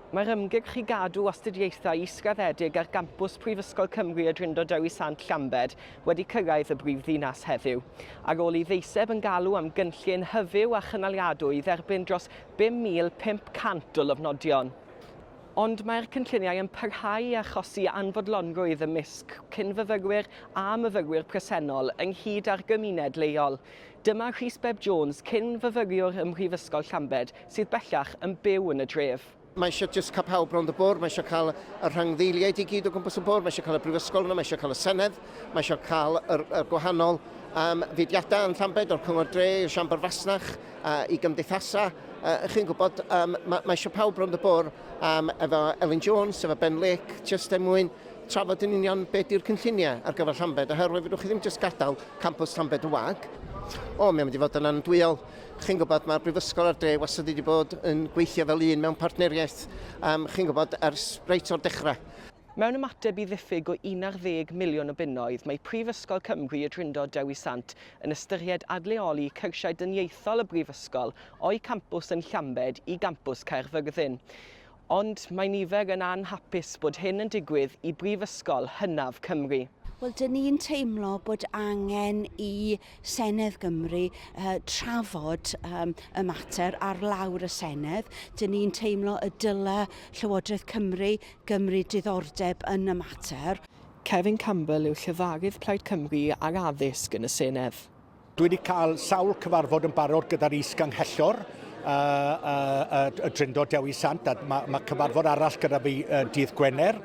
Mae'r ymgyrch i gadw astudiaethau israddedig ar gampws Prifysgol Cymru y Drindod Dewi Sant Llambed wedi cyrraedd y brif ddinas heddiw. Ar ôl i ddeiseb yn galw am gynllun hyfyw a chynaliadwy i dderbyn dros 5,500 o lofnodion, ond mae'r cynlluniau yn parhau i achosi anfodlonrwydd ymysg cyn-fyfyrwyr a myfyrwyr presennol ynghyd â'r gymuned leol, Dyma Rhys Beb Jones, cyn-fyfyriwr ym Mhrifysgol Llambed, sydd bellach yn byw yn y dref. Mae eisiau jyst cael pawb rownd y bwrdd, mae eisiau cael y rhangddeiliaid i gyd o gwmpas y bwrdd, mae eisiau cael y brifysgol yno, mae eisiau cael y senedd, mae eisiau cael y, y gwahanol um, fudiadau yn Llambed, o'r cyngor dre, i'r siambr fasnach, uh, i gymdeithasau. Uh, chi'n gwybod, um, mae, mae eisiau pawb rownd y bwrdd um, efo Elin Jones, efo Ben Lake, jyst er mwyn trafod yn union beth yw'r cynlluniau ar gyfer Llambed, oherwydd fedrwch chi ddim jyst gadael campws Llambed yn wag. O, mae'n mynd i fod yn andwyol. Chi'n gwybod, mae'r Brifysgol a'r dre wastad wedi bod yn gweithio fel un mewn partneriaeth, um, chi'n gwybod, ers reit o'r dechrau. Mewn ymateb i ddiffyg o 11 miliwn o bunnoedd, mae Prifysgol Cymru y Drindod Dewi Sant yn ystyried adleoli cyrsiau dyniaethol y Brifysgol o'i campws yn Llambed i gampws Caerfyrddin. Ond mae nifer yn anhapus bod hyn yn digwydd i brifysgol hynaf Cymru. Wel, dyn ni'n teimlo bod angen i Senedd Gymru uh, trafod um, y mater ar lawr y Senedd. Dyn ni'n teimlo y dyle Llywodraeth Cymru gymryd diddordeb yn y mater. Kevin Campbell yw llefarydd Plaid Cymru ar addysg yn y Senedd. Dwi wedi cael sawl cyfarfod yn barod gyda'r is-ganghellor, uh, uh, uh, y Drindod Dewi Sant, a mae ma cyfarfod arall gyda fi uh, dydd Gwener.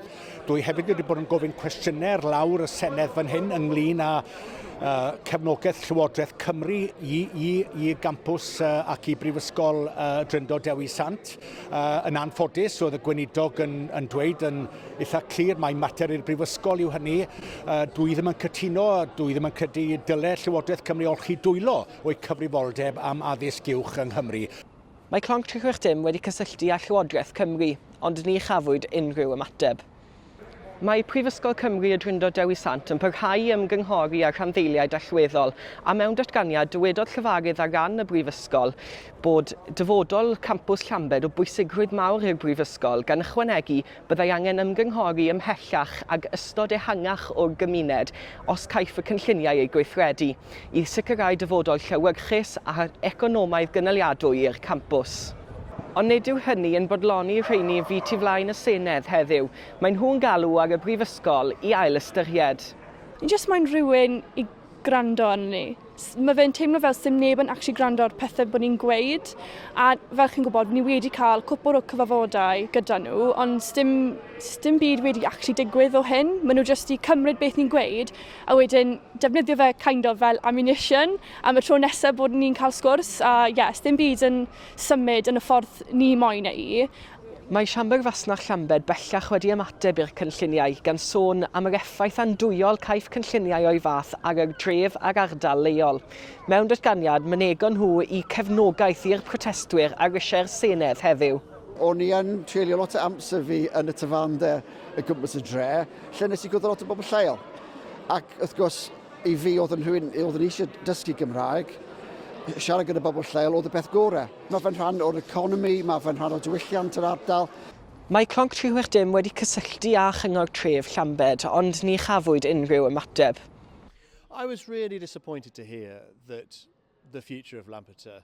Dwi hefyd wedi bod yn gofyn cwestiynau ar lawr y Senedd fan hyn ynglyn â uh, cefnogaeth Llywodraeth Cymru i, i, i gampus uh, ac i Brifysgol uh, Dryndo Dewi Sant. Uh, yn anffodus, roedd y gweinidog yn, yn dweud yn eitha clir mae mater i'r brifysgol yw hynny. Uh, dwi ddim yn cytuno, dwi ddim yn credu dylai Llywodraeth Cymru olchi dwylo o'i cyfrifoldeb am addysg uwch yng Nghymru. Mae Clonc 360 wedi cysylltu â Llywodraeth Cymru, ond ni chafwyd unrhyw ymateb. Mae Prifysgol Cymru Y Drindod Dewi Sant yn parhau i ymgynghori â rhanddeiliaid allweddol, a mewn datganiad, dywedodd llefarydd ar ran y Brifysgol bod dyfodol campws Llambed o bwysigrwydd mawr i'r Brifysgol, gan ychwanegu, byddai angen ymgynghori ymhellach ag ystod ehangach o'r gymuned os caiff y cynlluniau eu gweithredu. i sicrhau dyfodol llewyrchus a economaidd gynaliadwy i'r campws. Ond nid yw hynny yn bodloni y rheini fu tu flaen y Senedd heddiw, maen nhw'n galw ar y Brifysgol i ailystyried. Ni jyst moyn rhywun i gwrando arnon ni. Mae fe'n teimlo fel sdim neb yn actually gwrando ar pethau bod ni'n gweud a fel chi'n gwybod ni wedi cael cwpl o cyfarfodau gyda nhw ond sdim, sdim byd wedi actually digwydd o hyn. Maen nhw jyst i cymryd beth ni'n gweud a wedyn defnyddio fe kind of fel ammunition am y tro nesaf bod ni'n cael sgwrs a yes, dim byd yn symud yn y ffordd ni moyn eu. Mae Siambr Fasnach Llambed bellach wedi ymateb i'r cynlluniau, gan sôn am yr effaith andwyol caiff cynlluniau o'i fath ar yr dref a'r ardal leol. Mewn datganiad, mynegon nhw eu cefnogaeth i'r protestwyr a risiau'r Senedd heddiw. O'n i yn treulio lot o amser fi yn y tafarndai. y gwmpas y dre, lle nes i gwrdd â lot o bobl lleol. Ac wrth gwrs, i fi oedd yn rhywun oedd yn eisiau dysgu Gymraeg, siarad gyda bobl lleol oedd y peth gorau. Mae fe'n rhan o'r economi, mae fe'n rhan o diwylliant yr ardal. Mae Clonc 360 wedi cysylltu â Chyngor Tref Llambed ond ni chafwyd unrhyw ymateb. I was really disappointed to hear that the future of Lampeter